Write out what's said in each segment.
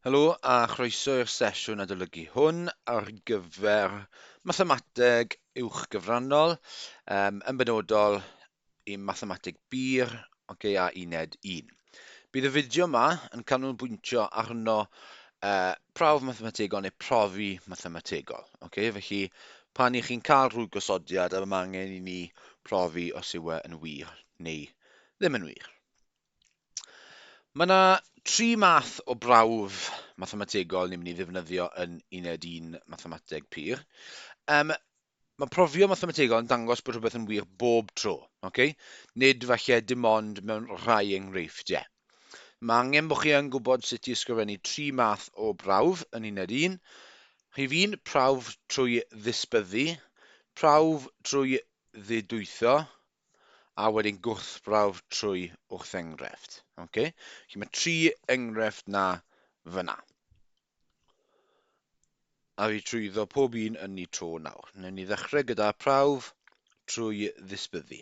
Helo a chroeso i'r sesiwn adolygu hwn ar gyfer mathemateg uwchgyfrannol, um, yn benodol i mathemateg bur, okay, a uned 1. Bydd y fideo yma yn canolbwyntio arno uh, prawf mathemategol neu profi mathemategol. Okay? Felly, pan i chi'n cael rhyw gosodiad a mae angen i ni profi os yw e yn wir neu ddim yn wir. Mae yna tri math o brawf mathemategol ni'n mynd i ddefnyddio yn uned un mathemateg pur. Um, mae profio mathemategol yn dangos bod rhywbeth yn wir bob tro, okay? nid falle dim ond mewn rhai enghreifftiau. Mae angen bod chi yn gwybod sut i ysgrifennu tri math o brawf yn uned un. Rhif un, prawf trwy ddisbyddu, prawf trwy ddidwytho, a wedyn gwrthbrawf trwy wrthengrefft. Okay? Felly mae tri enghraifft na fyna. A fi trwyddo pob un yn ni tro nawr. Newn ni ddechrau gyda prawf trwy ddisbyddu.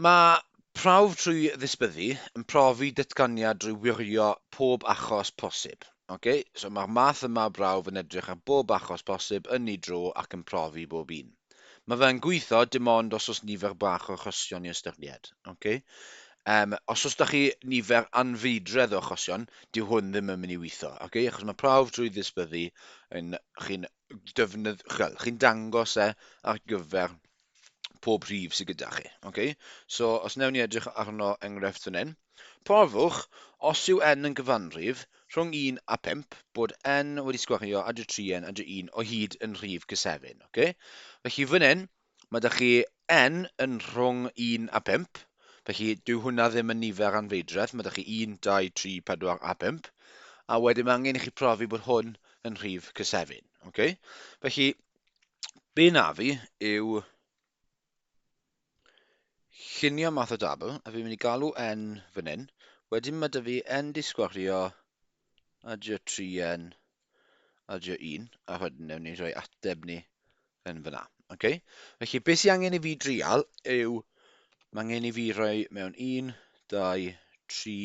Mae prawf trwy ddisbyddu yn profi datganiad drwy wirio pob achos posib. Okay? So mae'r math yma o brawf yn edrych ar bob achos posib yn ni dro ac yn profi bob un. Mae fe yn gweithio dim ond os oes nifer bach o achosion i ystyried. Okay? Um, os oes da chi nifer anfeidredd o achosion, dyw hwn ddim yn mynd i weithio. Okay? Achos mae prawf drwy ddisbyddu yn chi'n defnyddiol, chi'n dangos e ar gyfer pob rhif sydd gyda chi. Okay? So, os newn ni edrych arno enghraifft fan hyn, Profwch, os yw n yn gyfanrif rhwng un a phump, bod n wedi sgwario a dy tri n a dy un o hyd yn rhif cysefin. Ok? Felly fan hyn, mae da chi n yn rhwng un a phump, felly dyw hwnna ddim yn nifer anfeidredd, mae da chi un, dau, tri, pedwar a phump, a wedyn mae angen i chi profi bod hwn yn rhif cysefin. Ok? Felly, be na fi yw Lluniau math o dabl, a fi'n mynd i galw N fan hyn. Wedyn mae dy fi N di sgwario, a dy o 3N, a dy o 1, a wedyn newn ni rhoi ateb ni yn fyna. Okay? Felly, beth sy'n angen i fi drial yw, mae angen i fi rhoi mewn 1, 2, 3,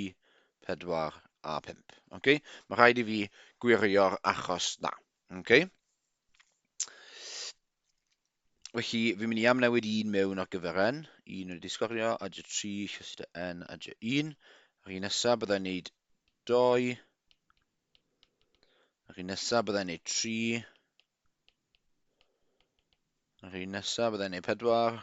4 a 5. Okay? Mae rhaid i fi gwirio'r achos na. Okay. Felly, fi'n mynd i amnewid un mewn ar gyfer N, un yn y disgorio, a dy 3, llyst y N, a dy 1. Yr un nesaf byddai'n neud 2. Yr un nesaf byddai'n neud 3. Yr un nesaf byddai'n neud 4.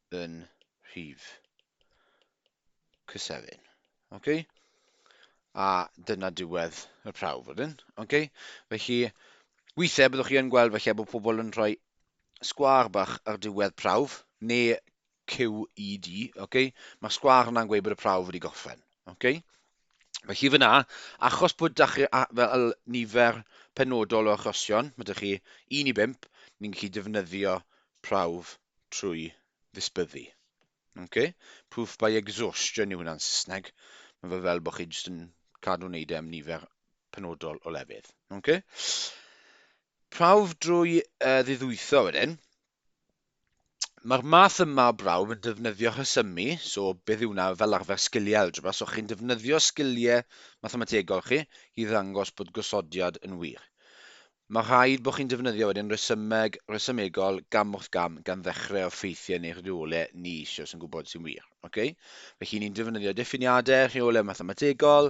yn rhif cysefin. Okay? A dyna diwedd y prawf wedyn. Okay? Felly, weithiau byddwch chi yn gweld felly bod pobl yn rhoi sgwar bach ar diwedd prawf, neu QED, okay? mae'r sgwar yna'n gweud bod y prawf wedi gorffen. Okay? Felly fyna, achos bod da chi fel nifer penodol o achosion, mae da chi 1 i 5, ni'n gallu defnyddio prawf trwy ddisbyddu. Ok? Proof by exhaustion yw hwnna'n Saesneg. Mae fe fel bod chi jyst yn cadw wneud e am nifer penodol o lefydd. Ok? Prawf drwy uh, ddiddwytho wedyn. Mae'r math yma o brawf yn defnyddio rhesymu, so beth yw hwnna fel arfer sgiliau algebra, so chi'n defnyddio sgiliau mathemategol chi i ddangos bod gosodiad yn wir. Mae rhaid bod chi'n defnyddio wedyn rhesymeg, rhesymegol, gam wrth gam, gan ddechrau o ffeithiau neu'ch rheolau ni eisiau sy'n gwybod sy'n wir. Ok? Felly ni'n defnyddio diffiniadau, rheolau mathemategol,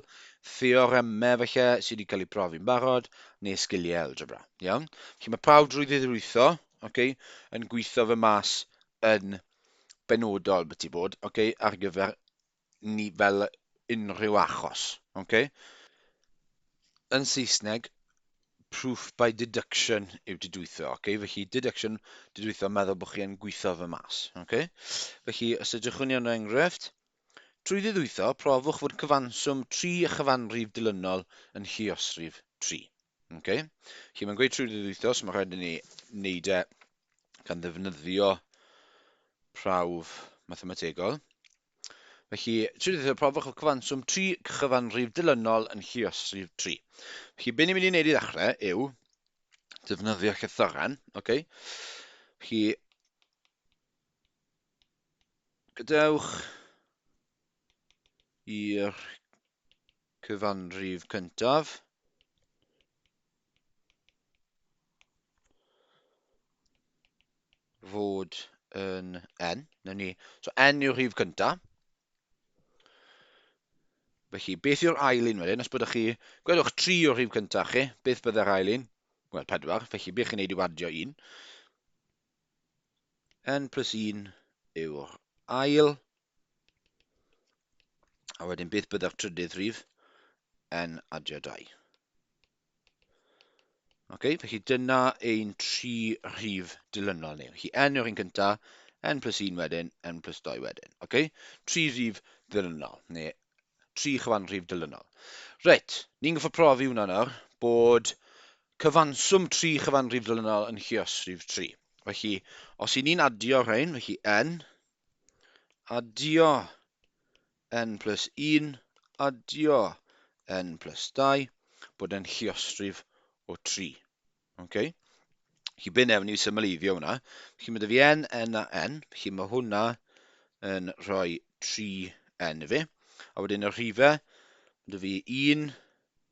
theoremau falle sydd wedi cael eu profi'n barod, neu sgiliau algebra. Iawn? Felly mae pawb drwy ddidrwytho, ok, yn gweithio fe mas yn benodol byti bod, ok, ar gyfer ni fel unrhyw achos. Okay? Yn Saesneg, proof by deduction yw didwytho. Okay? Felly, deduction, didwytho, meddwl bod chi yn gweithio fy mas. Okay? Felly, os ydych chi'n iawn o enghraifft, trwy ddidwytho, profwch fod cyfanswm 3 a chyfanrif dilynol yn lluosrif 3. Okay. Felly mae'n gweud trwy ddydd wythnos, mae rhaid i ni wneud e gan ddefnyddio prawf mathemategol. Felly, trwy ddydd profwch y cyfanswm 3 cyfanrif dilynol yn lliosrif 3. Felly, be ni'n mynd i wneud i ddechrau yw defnyddio llythyren. Okay. Felly, gadewch i'r cyfanrif cyntaf. fod yn n, na ni. So n yw'r rhif cyntaf. Felly, beth yw'r ail un wedyn? Os byddwch chi, gwedwch 3 o'r rhif cyntaf chi, beth byddai'r ail un? Wel, 4, felly beth chi'n neud yw adio un. n plus 1 yw'r ail, a wedyn beth byddai'r trydydd rhif? n adio 2. Okay, felly dyna ein tri rhif dilynol ni. Felly n yw'r un cyntaf, n plus 1 wedyn, n plus 2 wedyn. Okay? Tri rhif dilynol, neu tri chyfanrhif dilynol. Reit, ni'n goffa profi hwnna nawr, bod Cyfanswm tri chyfanrif ddilynol yn lluosrif tri. Felly, os i ni'n adio rhain, felly n, adio n plus 1, adio n plus 2, bod e'n lluosrif o tri. Okay? Felly, byn ewn ni symleiddio hwnna. Felly, mae dy fi n, n a n. Felly, mae hwnna yn rhoi 3n i fi. A wedyn y rhifau, mae dy fi 1,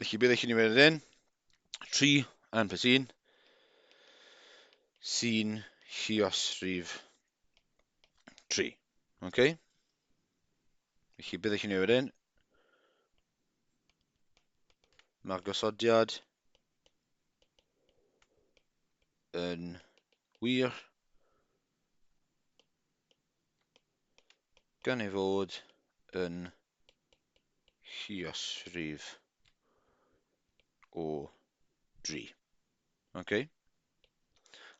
Felly bydd eich nifer yn 3 anfes 1 sy'n lliosrif 3. Okay? Felly bydd eich nifer yn mae'r gosodiad yn wir gan ei fod yn lluosrif o 3. Ok?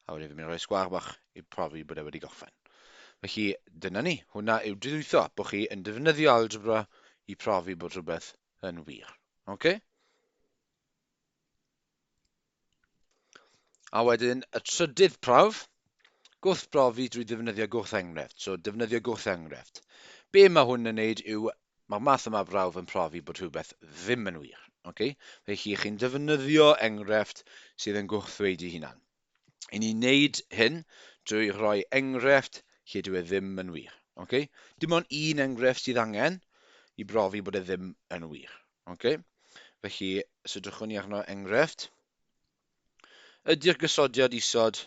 A wedyn fi'n mynd i roi sgwar bach i profi bod e wedi gorffen. Felly, dyna ni. Hwna yw didwytho, bod chi yn defnyddio algebra i profi bod rhywbeth yn wir. Ok? A wedyn y trydydd prawf, gwrthbrofi drwy ddefnyddio gwrthenghraifft. So, defnyddio gwrthenghraifft. Be mae hwn yn neud yw, mae'r math yma brawf yn profi bod rhywbeth ddim yn wir. Okay? Felly, chi'n defnyddio enghraifft sydd yn gwrthddweud ei hunan. I ni wneud hyn drwy roi enghraifft lle dyw e ddim yn wir. Okay? Dim ond un enghraifft sydd angen i brofi bod e ddim yn wir. Okay? Felly, os ydwchwn ni arno enghraifft, ydy'r gysodiad isod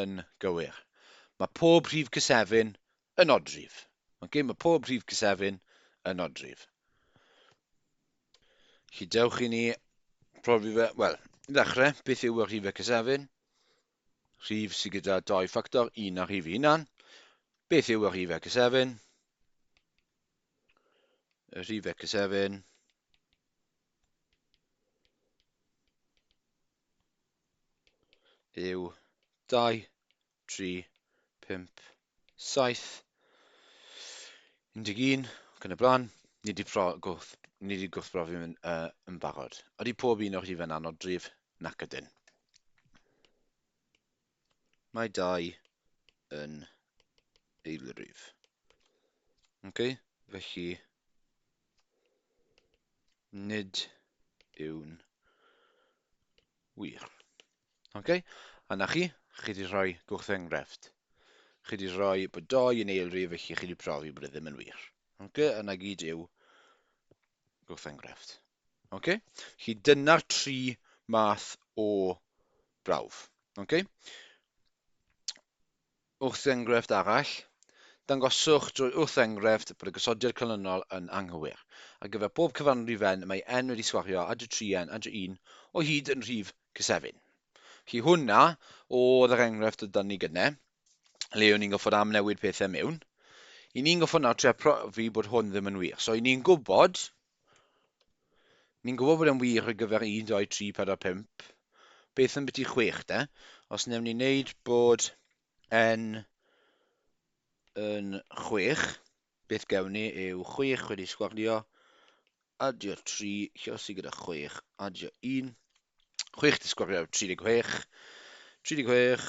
yn gywir? Mae pob rhif cysefin Yn odryf. Mae'n gêm y pob rhif cysefin yn odryf. Chi dewch i ni profi fe, wel, i ddechrau, beth yw y rhifau cysefin? Rhif sydd gyda doi ffactor, un a rhif hunan. Beth yw y rhifau cysefin? Y rhifau cysefin yw 2 tri, pump, saith, 11, ac yn y blaen. Ni wedi gwth, ni wedi gwrthbrofi yn, uh, yn barod. Ydy pob un o'r chi fe'n anodrif? Nac ydyn. Mae dau yn eilrif. Okay? Felly, nid yw'n wir. Ok, a na chi, chi wedi rhoi gwrth enghraifft. Chi wedi rhoi bod doi yn eilrif felly chi wedi profi bod e ddim yn wir. Ok, a na gyd yw gwrth enghraifft. Ok, chi dyna'r tri math o brawf. Ok? Wrth-enghraifft arall, Dangoswch drwy wrth-enghraifft bod y gosodiad canlynol yn anghywir. Ar gyfer pob cyfanrif-n mae n wedi sgwario â dro tri n â dro un o hyd yn rhif cysefin. Felly hwnna oedd yr enghraifft oedd 'da ni gynne, le o'n ni'n gorfod amnewid pethau mewn. I ni'n gorfod nawr trio profi bod hwn ddim yn wir. So i ni'n gwybod Ni'n gwybod bod e'n wir ar gyfer un, dou, tri, pedwar, pump. Beth am biti chwech, de? Os newn ni wneud bod n yn chwech, beth gewn ni yw chwech wedi sgwario, adio tri, llosi gyda chwech, adio un. Chwech di sgwario 36, 36,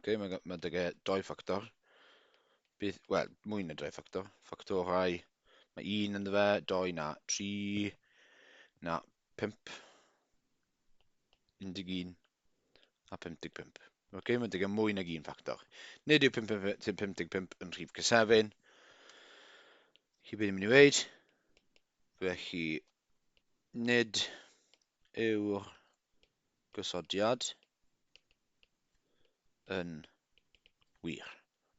okay, mae'n ma dy doi ffactor. Bydd, wel, mwy na doi ffactor. Ffactorau, mae un yn fe, doi na tri, na pimp, 11 a 55. Oce, okay, mae'n deg mwy nag un ffactor. Nid yw 55 yn rhif cysefin. Chi beth i'n mynd i wneud? Felly, nid yw'r gosodiad yn wir.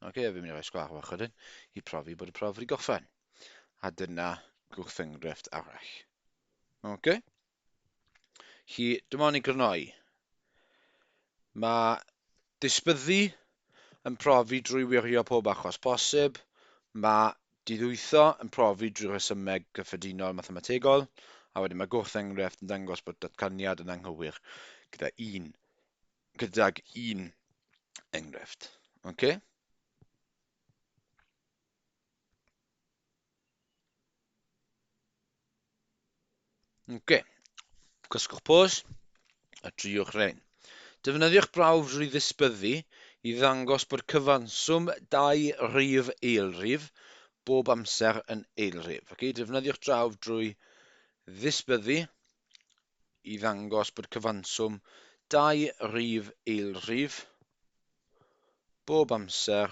Oce, okay, fi'n mynd i roi sgwar fach wedyn i profi bod y prof wedi gorffen. A dyna gwrthyngrefft arall. Oce? Okay? Chi, dyma ni grynoi. Mae disbyddu yn profi drwy wirio pob achos posib. Mae Didwytho yn profi drwy rhesymeg cyffredinol mathemategol, a wedyn mae gwrth-enghraifft yn dangos bod datganiad yn anghywir gyda un, gydag un enghraifft. Ok? Ok, cysgwch pos a triwch rhain. Defnyddiwch brawf drwy ddisbyddu i ddangos bod cyfanswm dau rif eilrif bob amser yn eilrif. Ok, defnyddiwch drawf drwy ddisbyddu i ddangos bod cyfanswm dau rif eilrif bob amser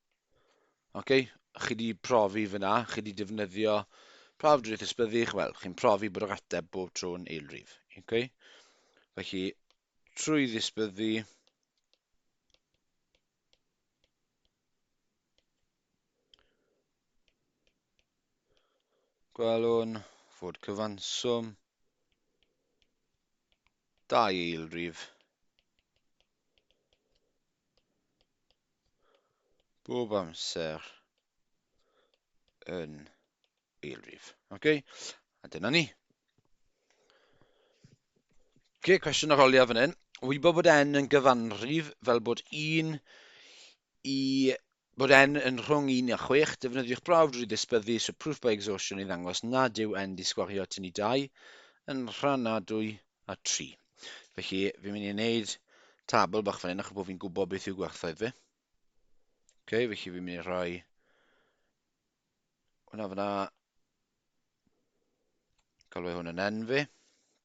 Ok, chi wedi profi fyna, chi wedi defnyddio prawf drwy'r ysbyddych, wel, chi'n profi bod yr ateb bob tro'n eilrif. Ok? Felly, trwy ddisbyddu, gwelwn fod cyfanswm dau eilrif bob amser yn eilrif. Okay? A dyna ni. Okay, cwestiwn ar oliaf fan hyn. Wybod bod n yn gyfanrif fel bod 1 i Bod N yn rhwng un a chwech, defnyddiwch brawf drwy ddisbyddu so proof by exhaustion i ddangos nad yw N 'di sgwario at ynni dau yn rhannadwy a tri. Felly, fi'n mynd i wneud tabl bach fan hyn achos bod fi'n gwybod beth yw gwerthoedd fi. Ok, felly fi'n mynd i rhoi hwnna fyna. Galw hwn yn N fi.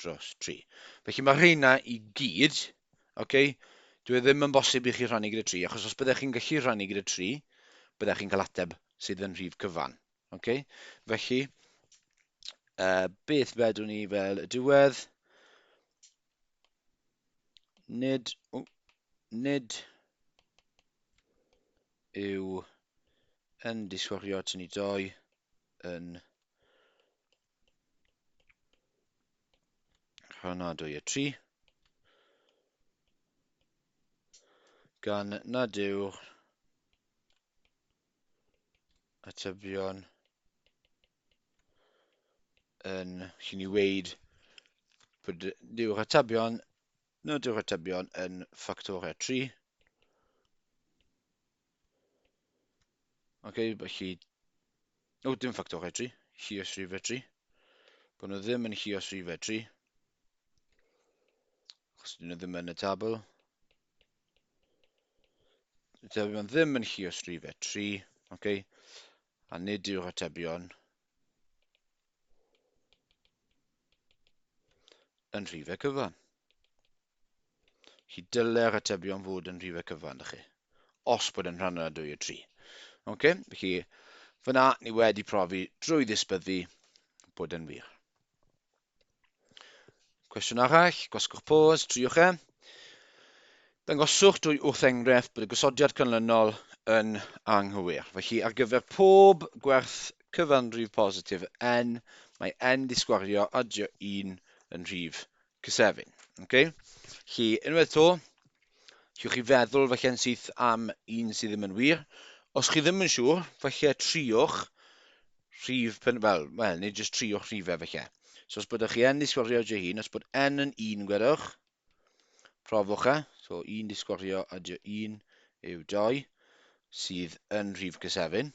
dros 3. Felly mae rheina i gyd, okay, dwi e ddim yn bosib i chi rhannu gyda 3, achos os byddech chi'n gallu rhannu gyda 3, byddech chi'n cael ateb sydd yn rhif cyfan. Okay? Felly, uh, beth fedwn ni fel y diwedd? Nid, oh, nid yw yn disgwyl tynnu doi yn Rhan a 2 a 3. Gan nad yw'r atebion yn chi'n ni weid bod yw'r atebion nad yw'r atebion yn ffactor a 3 Ok, felly... O, oh, dim ffactor fedru. Chi os rhi fedru. Bod nhw ddim yn chi os rhi fedru. Achos dyn nhw ddim yn y tabl. Dydy nhw ddim yn chi os rhi fedru. Ok. A nid yw'r atebion yn rhifau cyfan. Chi dylai'r atebion fod yn rhifau cyfan, da chi, os bod yn rhan yna 2 o 3. Ok, felly fyna ni wedi profi drwy ddisbyddu bod yn wir. Cwestiwn arall, gwasgwch pause, triwch e. Dangoswch drwy wrth enghraifft bod y gosodiad canlynol yn anghywir. Felly, ar gyfer pob gwerth cyfanrif positif n, mae n ddisgwario adio 1 yn rhif cysefin. Okay? Felly, unwaith to, Cewch chi feddwl falle yn syth am un sydd ddim yn wir. Os chi ddim yn siŵr, falle triwch rhif, pen, wel, wel, neu jyst triwch rhifau falle. So os byddwch chi yn disgwyrio dy hun, os bod n yn un, gwedwch, profwch e, so un disgwyrio a dy un yw doi, sydd yn rhif cysefin.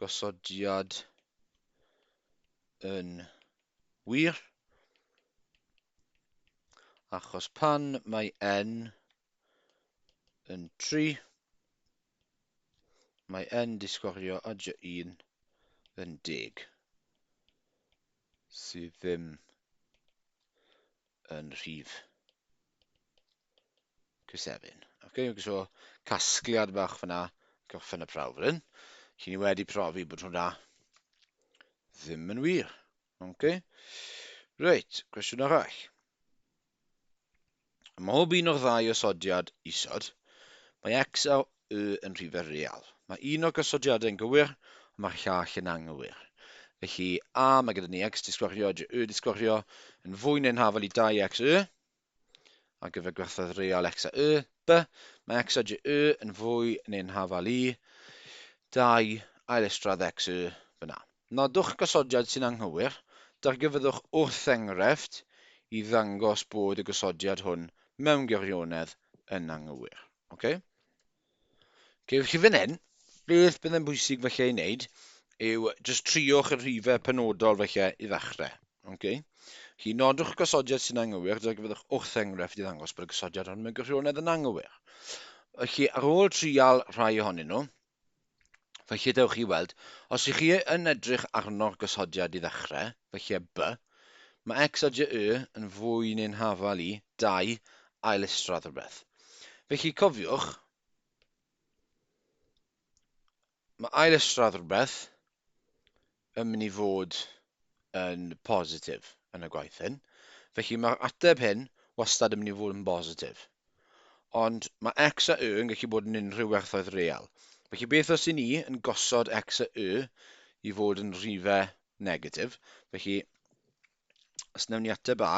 gosodiad yn wir, achos pan mae n yn 3, mae n disgwario adj 1 yn deg, sydd ddim yn rhif Cysefin. Okay, so casgliad bach fyna, goffen y prawf rhywun. Chi ni wedi profi bod hwnna ddim yn wir. Okay. Reit, cwestiwn arall. Ym mhob un o'r ddau osodiad isod, mae x a y yn rhy ferial. Mae un o'r gosodiadau yn gywir, ond mae'r llall yn anghywir. Felly, a, mae gyda ni x disgwario a jy disgwario yn fwy neu'n hafal i 2x y ar gyfer gwerthoedd real x a y, b, mae x a jy yn fwy neu'n hafal i 2 ailestradd x y byna. Nodwch gosodiad sy'n anghywir, dargyfyddwch wrth-enghraifft i ddangos bod y gosodiad hwn mewn gwirionedd yn anghywir. Okay? Okay, felly fan hyn, beth bydd yn bwysig felly ei wneud yw just triwch y rhifau penodol felly i ddechrau. Okay? Chi nodwch y gosodiad sy'n anghywir, dyna gyfyddwch wrth enghraifft i ddangos bod y gosodiad hwn mewn gwirionedd yn anghywir. Felly, ar ôl trial rhai ohonyn nhw, Felly, dewch i weld, os ych chi yn edrych arno'r gosodiad i ddechrau, felly a b, mae x a j y yn fwy neu'n hafal i, dau, ail-isradd rhywbeth. Felly, cofiwch, mae ail-isradd rhywbeth yn mynd i fod yn bositif yn y gwaith hyn. Felly mae'r ateb hyn wastad yn mynd i fod yn bositif. Ond mae x a y yn gallu bod yn unrhyw werthoedd real. Felly beth os i ni yn gosod x a y i fod yn rhife negatif? Felly, os newn ni ateb A,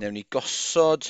newn ni gosod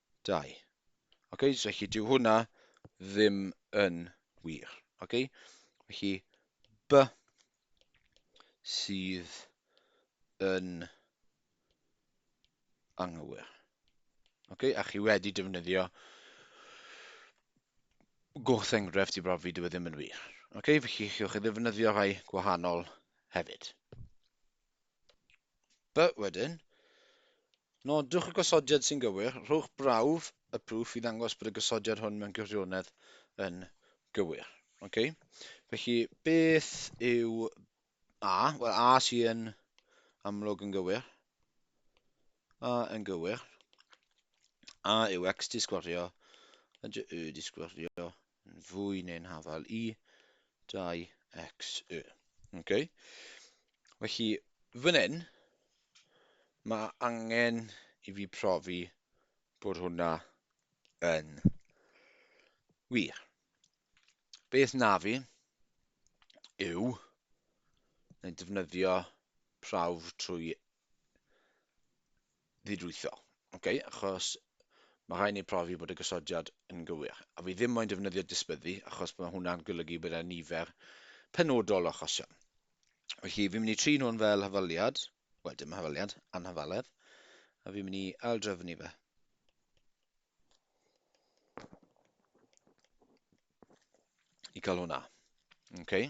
2. Ok, so felly dyw hwnna ddim yn wir. Ok, felly B sydd yn anghywir. Ok, a chi wedi defnyddio gwrth enghraifft i brofi dyw e ddim yn wir. Ok, felly chi'ch chi ddefnyddio rhai gwahanol hefyd. By, wedyn, nodwch y gosodiad sy'n gywir, rhowch brawf y proof i ddangos bod y gosodiad hwn mewn gwirionedd yn gywir. Ok? Felly, beth yw A? Wel, A sy'n amlwg yn gywir. A yn gywir. A yw X di sgwario, a dy Y di sgwario, yn fwy neu'n hafal i 2xy. Okay? Felly, fan hyn, mae angen i fi profi bod hwnna yn wir. Beth na fi yw yn defnyddio prawf trwy ddidwytho, okay? achos mae rhaid ni profi bod y gosodiad yn gywir. A fi ddim moyn defnyddio disbyddu, achos mae hwnna'n golygu bod yna nifer penodol o achosion. Felly, fi'n mynd i trin hwn fel hafaliad, wel dim hafaliad, anhafaledd, a fi'n mynd i aildrefnu fe. I cael hwnna. Okay?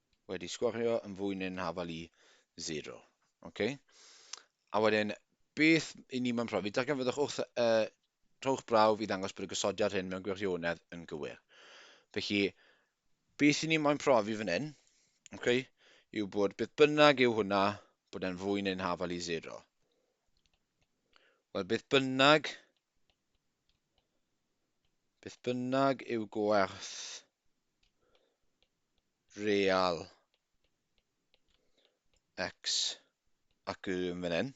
wedi sgorio yn fwy neu'n hafal i 0. Okay? A wedyn, beth i ni mae'n profi? Darganfyddwch wrth y uh, trowch brawf i ddangos bod y gosodiad hyn mewn gwirionedd yn gywir. Felly, beth i ni mae'n profi fan hyn, okay, yw bod beth bynnag yw hwnna, bod e'n fwy neu'n hafal i 0. Wel, beth bynnag Beth bynnag yw gwerth real x ac y yn fan hyn,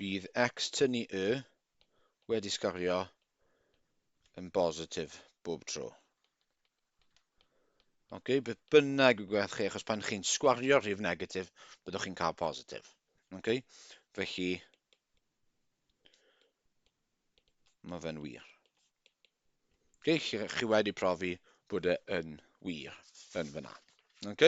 bydd x tynnu y wedi sgorio yn bositif bob tro. Ok, beth bynnag yw gwerth chi, achos pan chi'n sgwario rhif negatif, byddwch chi'n cael positif. Ok, felly, mae fe'n wir. Ok, chi, chi wedi profi bod e yn wir yn fyna. Ok?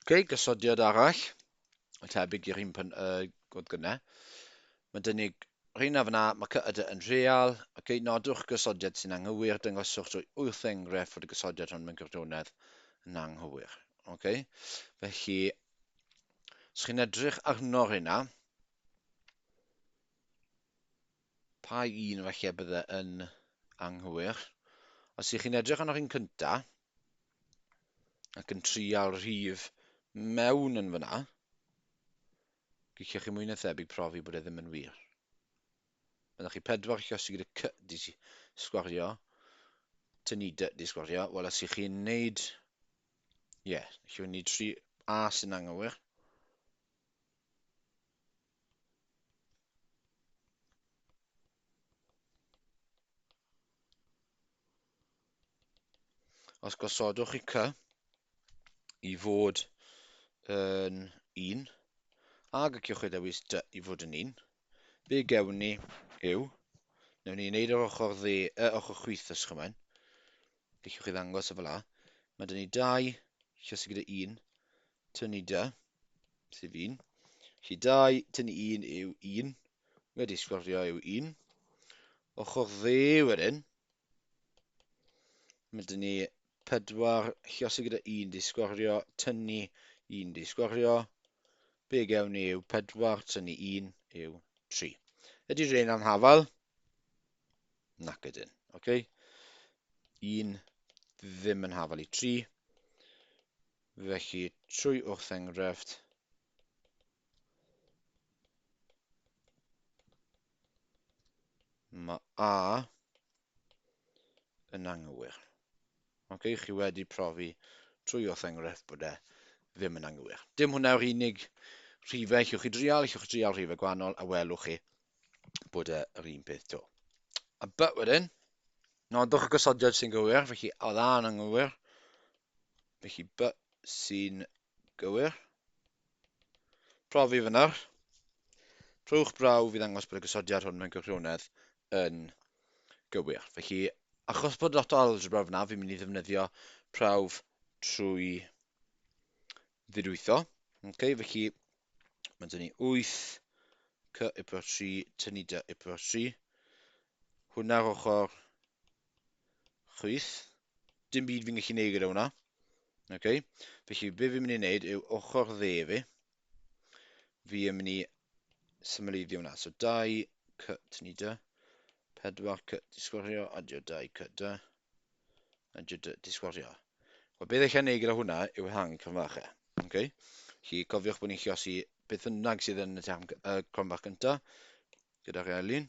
Ok, gosodiad arall, y tebyg i'r un pan, uh, gwrdd gyna. Mae dyn ni rheina fyna, mae cyda yn real. Ok, nodwch gosodiad sy'n anghywir, dyngoswch drwy wyth enghraifft fod y gosodiad hwn mewn gwirionedd yn anghywir. Ok, felly, os chi'n edrych arno rheina, pa un felly bydde yn anghywir? Os ych chi'n edrych arno'r un cyntaf, ac yn trial rhif mewn yn fyna, giciwch chi mwy na thebyg profi bod e ddim yn wir. Byddwch chi pedwar chi os i gyda cy di sgwario, tynnu dy di sgwario, wel os i chi'n neud, ie, yeah, chi wedi neud tri A sy'n anghywir, Os gosodwch chi cy i fod yn 1, a gyciwch chi ddewis dy i fod yn 1, be gewn ni yw, newn ni wneud yr ochr dde, y ochr chwith os chymain, gyciwch chi ddangos y fel a, mae dyn ni 2, lle sy'n gyda 1, tynnu dy, sef 1, lle 2, tynnu 1 yw 1, wedi sgwrfio yw 1, ochr dde wedyn, Mae dyn ni pedwar llosi gyda un di sgorio, tynnu un di sgorio. Be gewn ni yw pedwar, tynnu un yw tri. Ydy rhain am hafal? Nac ydyn. Okay. Un ddim yn hafal i tri. Felly, trwy wrth enghraifft, Mae A yn anghywir. Ok, chi wedi profi trwy wrth enghraifft bod e ddim yn anghywir. Dim hwnna yw'r unig rhifau llwch chi drial, llwch chi drial rhifau gwahanol a welwch chi bod e yr un peth to. A but wedyn, nodwch y gosodiad sy'n gywir, felly oedd A yn anghywir, felly but sy'n Gywir. Profi fyna. Trowch brawf i ddangos bod y gosodiad hwn mewn gwirionedd yn gywir. Felly, achos bod lot o algebra fyna, fi'n mynd i ddefnyddio prawf trwy ddidwytho. Okay, felly, mae'n dynnu 8 cy y pro 3, tynnu dy y pro 3. Hwna'r ochr chwyth. Dim byd fi'n gallu neud gyda hwnna. Okay. Felly, be fi'n mynd i wneud yw ochr dde fi. Fi yn mynd i symleiddio hwnna. So, dau cut ni da. Pedwar cut disgwario, adio dau cut da. Adio dau disgwario. Wel, beth eich gwneud gyda hwnna yw hang cronfach e. Okay? Chi cofiwch bod ni'n lliosi beth bynnag sydd yn y tam uh, cronfach gyntaf, gyda'r elun.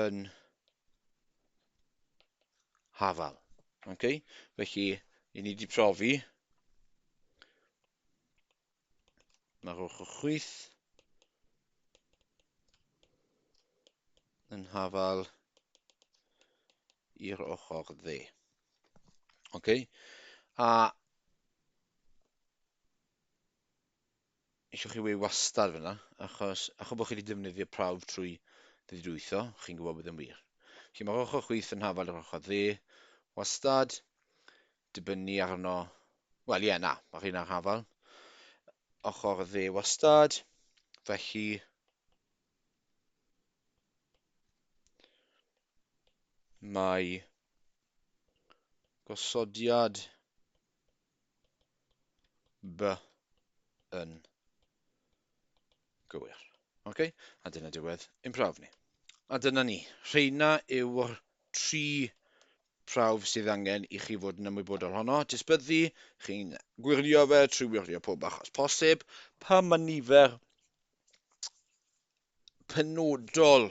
yn hafal. Okay? Felly, i ni wedi profi, mae'r ochr chwith yn hafal i'r ochr dde. Okay? A eisiau chi weu wastad fyna, achos achos bod chi wedi defnyddio prawf trwy ddidwytho, chi'n gwybod bod yn wir. Felly mae'r ochr chwith yn hafal yr ochr dde, wastad, dibynnu arno, wel ie, yeah, na, mae'r hyn ar hafal, ochr dde wastad, felly mae gosodiad By yn gywir. Ok, a dyna diwedd ein prawf ni. A dyna ni. Rheina yw'r tri prawf sydd angen i chi fod yn ymwybodol honno. Disbyddu, chi'n gwirio fe trwy wirio pob achos posib. Pa mae nifer penodol